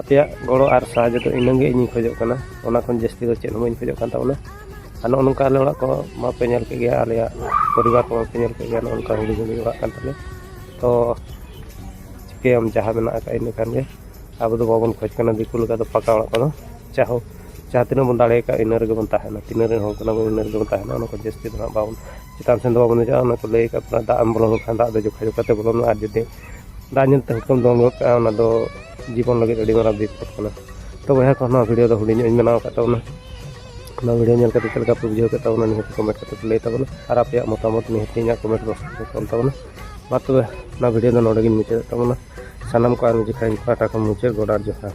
ᱟᱯᱮᱭᱟᱜ ᱜᱚᱲᱚ ᱟᱨ ᱥᱟᱦᱟᱡᱽᱡᱚ ᱫᱚ ᱤᱱᱟᱹᱜᱮ ᱤᱧᱤᱧ ᱠᱷᱚᱡᱚᱜ ᱠᱟᱱᱟ ᱚᱱᱟ ᱠᱷᱚᱱ ᱡᱟᱹᱥᱛᱤ ᱫᱚ ᱪᱮᱫ ᱦᱚᱸ ᱵᱟᱹᱧ ᱠᱷᱚᱡᱚᱜ ᱠᱟᱱ ᱛᱟᱵᱚᱱᱟ ᱟᱨ ᱱᱚᱜᱼᱚ ᱱᱚᱝᱠᱟ ᱟᱞᱮ ᱚᱲᱟᱜ ᱠᱚ ᱢᱟᱯᱮ ᱧᱮᱞ ᱠᱮᱫ ᱜᱮᱭᱟ ᱟᱞᱮᱭᱟᱜ ᱯᱚᱨᱤᱵᱟᱨ ᱠᱚ ᱢᱟᱯᱮ ᱧᱮᱞ ᱠᱮᱫ ᱜᱮᱭᱟ ᱱᱚᱜᱼᱚ ᱱᱚᱝᱠᱟ ᱦᱩᱰᱤᱧ ᱦᱩᱰᱤᱧ ᱚᱲᱟᱜ ᱠᱟᱱ ᱛᱟᱞᱮᱭᱟ ᱛᱚ ᱪᱤᱠᱟᱹᱭᱟᱢ ᱡᱟᱦᱟᱸ ᱢᱮᱱᱟᱜ ᱟᱠᱟᱫ ᱤᱱᱟᱹ ᱠᱷᱟᱱ ᱜᱮ ᱟᱵᱚ ᱫᱚ ᱵᱟᱵᱚᱱ ᱠᱷᱚᱡᱽ ᱠᱟᱱᱟ ᱫᱤᱠᱩ ᱞᱮᱠᱟ ᱫᱚ ᱯᱟᱠᱟ ᱚᱲᱟᱜ ᱠᱚᱫᱚ ᱡᱟᱦᱳ ᱡᱟᱦᱟᱸ ᱛᱤᱱᱟᱹᱜ ᱵᱚᱱ ᱫᱟᱲᱮᱭᱟᱠᱟᱫ ᱤᱱᱟᱹ ᱨᱮᱜᱮ ᱵᱚᱱ ᱛᱟᱦᱮᱱᱟ ᱛᱤᱱᱟᱹᱜ ᱨᱮᱱ ᱦᱚᱲ ᱠᱟᱱᱟ ᱵᱚᱱ ᱤᱱᱟᱹ ᱨᱮᱜᱮ ᱵᱚᱱ ᱛᱟᱦᱮᱱᱟ ᱚᱱᱟ ᱠᱷᱚᱱ ᱡᱟᱹᱥᱛᱤ ᱫᱚ ᱦᱟᱸᱜ ᱵᱟᱵᱚᱱ ᱪᱮᱛᱟᱱ ᱥᱮᱫ ᱫᱚ ᱵᱟᱵᱚᱱ ᱫᱮᱡᱚᱜᱼᱟ ᱚᱱᱟ ᱠᱚ ᱞᱟᱹᱭ ᱠᱟᱜ ᱵᱚᱱᱟ ᱫᱟᱜ ᱮᱢ ᱵᱚᱞᱚ ᱞᱮᱱᱠᱷᱟᱱ ᱫᱟᱜ ᱫᱚ ᱡᱚᱠᱷᱟ ᱡᱚᱠᱷᱟ ᱛᱮ ᱵᱚᱞᱚᱱᱟ ᱟᱨ ᱡᱩᱫᱤ ᱫᱟᱜ ᱧᱮᱞ ᱛᱮ ᱦᱟᱹᱠᱩᱢ ᱫᱚᱱ ᱜᱚᱫ ᱠᱟᱜᱼᱟ ᱚᱱᱟ ᱫᱚ ᱡᱤᱵᱚᱱ ᱞᱟᱹᱜᱤᱫ ᱟᱹᱰᱤ ᱢᱟᱨᱟᱝ ᱵᱤᱯᱚᱫ ᱠᱟᱱᱟ ᱛᱚ ᱵᱚᱭᱦᱟ ᱠᱚ ᱱᱚᱣᱟ ᱵᱷᱤᱰᱤᱭᱳ ᱫᱚ ᱦᱩᱰᱤᱧ ᱧᱚᱜ ᱤᱧ ᱵᱮᱱᱟᱣ ᱟᱠᱟᱫ ᱛᱟᱵᱚᱱᱟ ᱚᱱᱟ ᱵᱷᱤᱰᱤᱭᱳ ᱧᱮᱞ ᱠᱟᱛᱮ ᱪᱮᱫ ᱞᱮᱠᱟ ᱯᱮ ᱵᱩᱡᱷᱟᱹᱣ ᱠᱮᱫ ᱛᱟᱵᱚᱱᱟ ᱱᱤᱦᱟᱹᱛ ᱠᱚᱢᱮᱱᱴ ᱠᱟᱛᱮ ᱯᱮ ᱞᱟᱹᱭ ᱛᱟᱵᱚᱱᱟ ᱟᱨ ᱟᱯᱮᱭᱟᱜ ᱢᱚᱛᱟᱢᱚᱛ ᱱᱤᱦᱟᱹᱛ ᱤᱧᱟᱹᱜ ᱠᱚᱢᱮᱱᱴ ᱵᱚᱠᱥ ᱨᱮ ᱚᱞ ᱛᱟᱵᱚᱱᱟ ᱢᱟ ᱛᱚᱵᱮ ᱚᱱᱟ ᱵᱷᱤᱰᱤᱭᱳ ᱫᱚ ᱱᱚᱰᱮ ᱜᱤᱧ ᱢᱩᱪᱟᱹᱫ ᱛᱟᱵᱚᱱᱟ ᱥᱟᱱᱟᱢ ᱠᱚ ᱟᱨ ᱢᱤᱫ ᱡᱚᱠᱷᱟᱡ ᱤᱧ ᱯᱟᱦᱴᱟ ᱠᱷᱚᱱ ᱢᱩᱪᱟᱹᱫ ᱜᱚᱰ ᱟᱨ ᱡᱚᱦᱟᱨ